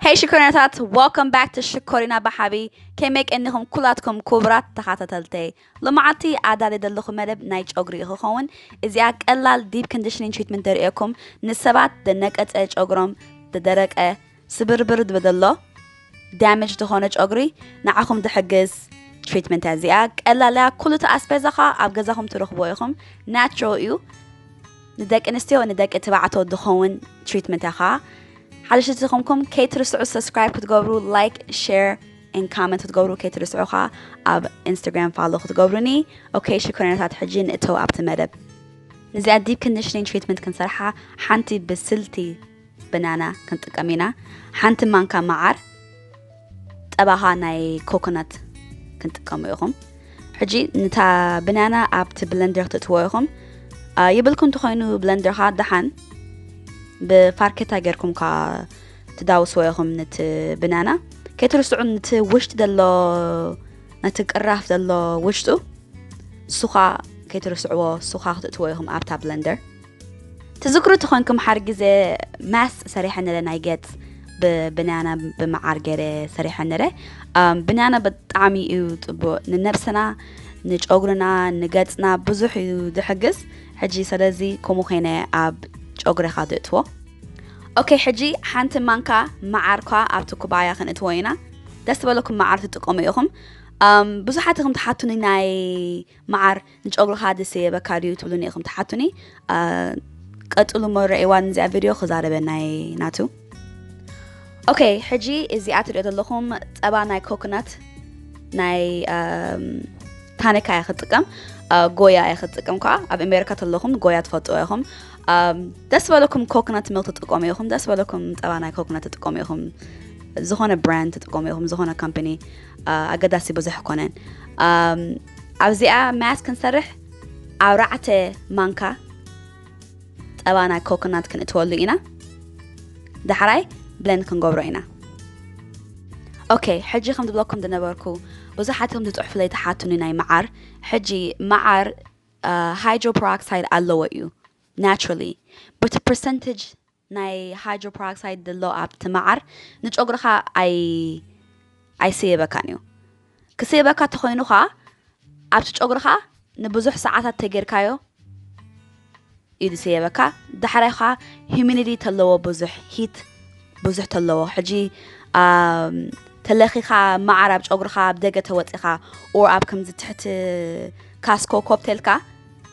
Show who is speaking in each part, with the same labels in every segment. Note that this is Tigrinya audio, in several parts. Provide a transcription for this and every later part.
Speaker 1: ሄይ ሽኮሪናታት ወልካም ባክ ቱ ሽኮሪና ብሓቢ ከመይ ቀኒኹም ኩላትኩም ኩቡራት ተኻታተልተይ ሎማዓልቲ ኣዳሊ ዘለኹ መደብ ናይ ጨጉሪ እዩ ክኸውን እዚኣ ቀላል ዲፕ ኮንዲሽኒንግ ትሪትመንት ደርእየኩም ንሰባት ደነቀጸ ጨጉሮም ደደረቀ ስብርብር ዝበደሎ ዳሜጅ ዝኾነ ጨጉሪ ንዓኹም ድሕግዝ ትሪትመንት እያ እዚኣ ቀላል እያ ኩሉ እቲ ኣስፔዛ ኸኣ ኣብ ገዛኹም ትረኽብዎ ኢኹም ናቹራል እዩ ንደቂ ኣንስትዮ ንደቂ ትባዕቶ ድኸውን ትሪትመንት ኢኻ ሓደሽቲ ዝኾንኩም ከይትርስዑ ሰብስክራይብ ክትገብሩ ላይክ ሼር ን ካመንት ክትገብሩ ከይትርስዑ ኸ ኣብ ኢንስታግራም ፋሎ ክትገብሩኒ ኦኬ ሽኮሪናታት ሕጂ ንእተው ኣብቲ መደብ ንዚኣ ዲፕ ኮንዲሽኒንግ ትሪትመንት ክንሰርሓ ሓንቲ ብስልቲ በናና ክንጥቀም ኢና ሓንቲ ማንካ መዓር ጠባኻ ናይ ኮኮናት ክንጥቀሙ ኢኹም ሕጂ ንታ ብናና ኣብቲ ብለንደር ክትእትዎ ኢኹም ይብልኩ እንተኮይኑ ብለንደርካ ደሓን ብፋርኬታ ጌርኩም ካ ትዳውስዎ ኢኹም ንቲ ብናና ከይትርስዑ ንቲ ውሽጢ ዘሎ ነቲ ቅራፍ ዘሎ ውሽጡ ሱኻ ከይትርስዕዎ ሱኻ ክትእትዎ ኢኹም ኣብታ ብለንደር ትዝክሩ ተኾንኩም ሓር ግዜ ማስ ሰሪሐ ነረ ናይ ገጽ ብብንያና ብምዓር ገይረ ሰሪሐ ነረ ብንያና ብጣዕሚ እዩ ፅቡቅ ንነብስና ንጨጉርና ንገፅና ብዙሕ እዩ ዝሕግዝ ሕጂ ስለዚ ከምኡ ኮይነ ኣብ ጨጉሪኻ ትእትዎ ኦኬ ሕጂ ሓንቲ ማንካ መዓርኳ ኣብቲ ኩባያ ክንእትዎ ኢና ደስ ዝበለኩም መዓር ትጥቀሙ ኢኹም ብዙሓት እኹም ትሓቱኒ ናይ መዓር ንጨጉርኻ ድስየበካ ድዩ ትብሉኒ ኢኹም ትሓቱኒ ቀጽሉ እሞ ረእይዋ ንዚኣ ቪድዮ ክዛረበና እየ ናቱ ኦኬ ሕጂ እዚኣ ትሪኦ ዘለኹም ጸባ ናይ ኮኮናት ናይ ታኒካ እየ ክጥቀም ጎያ እየ ክጥቀም ከዓ ኣብ ኣሜሪካ ተለኹም ጎያ ትፈልጥዎ ኢኹም ደስ በለኩም ኮኮናት ሚልክ ትጥቀሙ ኢኹም ደስ በለኩም ፀባ ናይ ኮኮናት ትጥቀሙ ኢኹም ዝኾነ ብራንድ ትጥቀሙ ኢኹም ዝኾነ ካምፓኒ ኣገዳሲ ብዙሕ ኮነን ኣብዚኣ ማያት ክንሰርሕ ኣርባዕተ ማንካ ጸባ ናይ ኮኮናት ክንእትወሉ ኢና ዳሕራይ ብለን ክንገብሮ ኢና ኦኬ ሕጂ ከም ዝብለኩም ዝነበርኩ ብዙሓትኩም ዝፅሑፍለይ ተሓቱኒ ናይ መዓር ሕጂ መዓር ሃይድሮፕሮክሳይድ ኣለዎ እዩ ናቹራሊ በቲ ፐርሰንቴጅ ናይ ሃይድሮፐራክሳይድ ድሎ ኣብቲ መዓር ንጨጉርኻ ኣይስየበካን እዩ። ክስየበካ እንተኾይኑ ኸኣ ኣብቲ ጨጉርኻ ንብዙሕ ሰዓታት ተጌርካዮ እዩ ዝስየበካ። ዳሕራይ ኸኣ ሂዩሚዲቲ ተለዎ ብዙሕ ሂት ብዙሕ ተለዎ ሕጂ ተለኺኻ መዓር ኣብ ጨጉርኻ ኣብ ደገ ተወጺኻ ኦር ኣብ ከምዚ ትሕቲ ካስኮ ኮፕቴልካ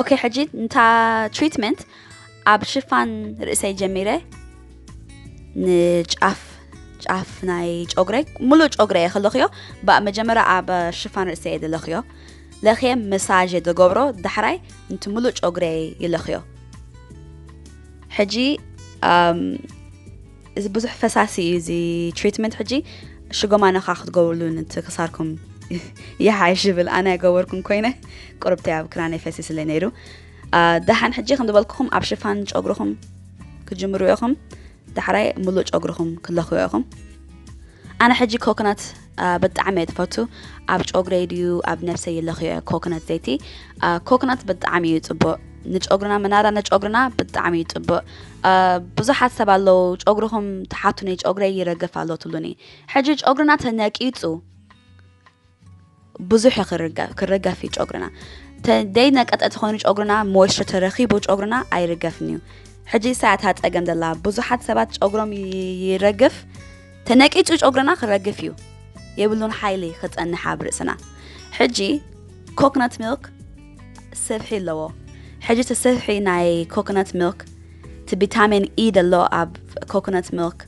Speaker 1: ኦኬ ሕጂ ንታ ትሪትመንት ኣብ ሽፋን ርእሰይ ጀሚረ ንጫፍ ጫፍ ናይ ጨጉረይ ሙሉእ ጨጉረ እየ ክለኽዮ ባእ መጀመርያ ኣብ ሽፋን ርእሰ እየ ዝለኽዮ ለኽየ መሳዥ እየ ዝገብሮ ዳሕራይ ንቲ ሙሉእ ጨጉረ ይለኽዮ ሕጂ እዚ ብዙሕ ፈሳሲ እዩ እዚ ትሪትመንት ሕጂ ሽጎማ ነኻ ክትገብርሉ ንቲ ክሳርኩም ይሓይሽ ይብል ኣነ ገበርኩም ኮይነ ቁርብተይ ኣብ ክራነይ ፈሲስለ ነይሩ ደሓን ሕጂ ከም ዝበልኩኹም ኣብ ሽፋን ጨጉርኹም ክጅምሩ ኢኹም ዳሕራይ ሙሉእ ጨጉርኹም ክለኽዮ ኢኹም ኣነ ሕጂ ኮኮናት ብጣዕሚ እየ ዝፈቱ ኣብ ጨጉረይ ድዩ ኣብ ነብሰይ ይለኽዮ እየ ኮኮናት ዘይቲ ኮኮናት ብጣዕሚ እዩ ፅቡቅ ንጨጉርና መናራ ንጨጉርና ብጣዕሚ እዩ ፅቡቅ ብዙሓት ሰብ ኣለዉ ጨጉርኹም ተሓቱኒ ጨጉረይ ይረግፍ ኣሎ ትብሉኒ ሕጂ ጨጉርና ተነቂፁ ብዙሕ ክርገፍ እዩ ጨጉርና ተደይ ነቀጠ ተኾይኑ ጨጉርና ሞይስቸር ተረኺቡ ጨጉርና ኣይርገፍን እዩ ሕጂ ሳያታ ፀገም ዘላ ብዙሓት ሰባት ጨጉሮም ይረግፍ ተነቂፁ ጨጉርና ክረግፍ እዩ የብሉን ሓይሊ ክፀንሕ ኣብ ርእስና ሕጂ ኮኮናት ሚልክ ስብሒ ኣለዎ ሕጂ እቲ ስብሒ ናይ ኮኮናት ሚልክ እቲ ቪታሚን ኢ ዘሎ ኣብ ኮኮናት ሚልክ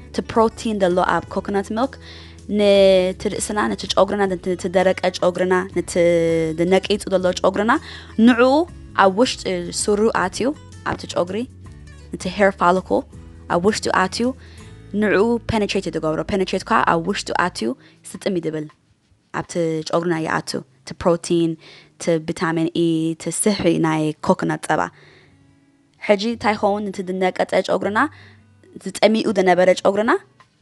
Speaker 1: እቲ ፕሮቲን ዘሎ ኣብ ኮኮናት ሚልክ ነቲ ርእስና ነቲ ጨጉርና ነቲ ደረቀ ጨጉርና ነቲ ነቂጹ ዘሎ ጨጉርና ንዕኡ ኣብ ውሽጢ ሱሩ ኣትዩ ኣብቲ ጨጉሪ ነቲ ሄር ፋልኮ ኣብ ውሽጡ ኣትዩ ንዕኡ ፔነትሬት እዩ ዝገብሮ ፔነትሬት ከዓ ኣብ ውሽጡ ኣትዩ ስጥም እዩ ዝብል ኣብቲ ጨጉርና ይኣቱ እቲ ፕሮቲን እቲ ቪታሚን ኢ እቲ ስሕሪ ናይ ኮኮናት ፀባ ሕጂ እንታይ ይኸውን እቲ ዝነቀፀ ጨጉርና ዝጠሚኡ ዝነበረ ጨጉርና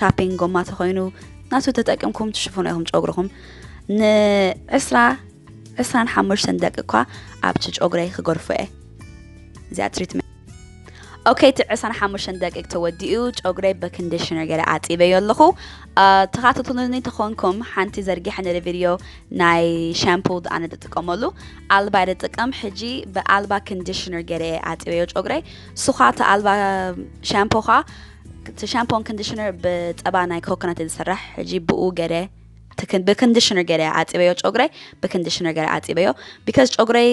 Speaker 1: ሻፒንግ ጎማ ተኮይኑ ናቱ ተጠቅምኩም ትሽፍኑ ኢኹም ጨጉርኹም ንዕስራ ዕስራን ሓሙሽተን ደቂ እኳ ኣብቲ ጨጉረይ ክገርፎ እየ እዚኣ ትሪትመንት ኦኬ እቲ ዕስራን ሓሙሽተን ደቂቅ ተወዲኡ ጨጉረይ በኮንዲሽነር ገለ ኣጢበዮ ኣለኹ ተኻተትሉኒ ተኾንኩም ሓንቲ ዘርጊሐ ነደ ቪድዮ ናይ ሻምፖ ኣነ ዝጥቀመሉ ኣልባ እየ ዝጥቀም ሕጂ ብኣልባ ኮንዲሽነር ገለ ኣጢበዮ ጨጉረይ ሱኻ እቲ ኣልባ ሻምፖ ኻ እቲ ሻምፖን ኮንዲሽነር ብጸባ ናይ ኮኮናት እዩ ዝስራሕ ሕጂ ብኡ ገለ ብኮንዲሽነር ገለ ዓጺበዮ ጨጉረይ ብኮንዲሽነር ገለ ዓጺበዮ ቢካዝ ጨጉረይ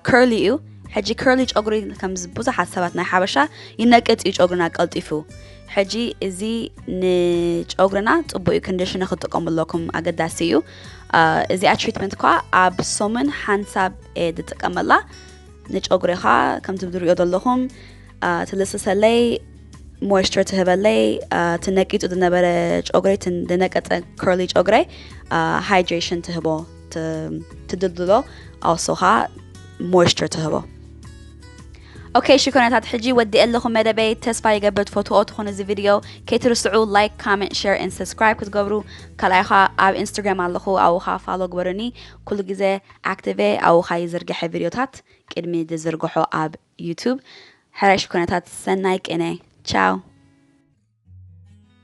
Speaker 1: ከርሊ እዩ ሕጂ ከርሊ ጨጉሪ ከም ብዙሓት ሰባት ናይ ሓበሻ ይነቅጽ እዩ ጨጉርና ቀልጢፉ ሕጂ እዚ ንጨጉርና ጽቡቅ እዩ ኮንዲሽነ ክትጥቀሙ ኣለኩም ኣገዳሲ እዩ እዚኣ ትሪትመንት ኳ ኣብ ሶሙን ሓንሳብ እየ ዝጥቀመላ ንጨጉሪኻ ከምቲ ዝሪኦ ዘለኹም ትልስሰለይ ሞይስቸር ትህበለይ እቲ ነቂፁ ዝነበረ ጨጉረይ ዝነቀፀ ከርሊ ጨጉረይ ሃይድሬሽን ትህቦ ትድልድሎ ኣውሶ ከዓ ሞይስቸር ትህቦ ኦኬ ሽኮናታት ሕጂ ወዲእ ኣለኹ መደበይ ተስፋ ይገብር ትፈትዎ ትኾኑ እዚ ቪድዮ ከይትርስዑ ላይክ ካመንት ሸር ን ሰብስክራይብ ክትገብሩ ካልኣይ ኸ ኣብ ኢንስታግራም ኣለኹ ኣብኻ ፋሎ ግበሩኒ ኩሉ ግዜ ኣክቲቨ ኣብኻ ይዝርግሐ ቪድዮታት ቅድሚ ዝዝርግሖ ኣብ ዩቱብ ሕረሽ ኩነታት ሰናይ ቅነ ቻው።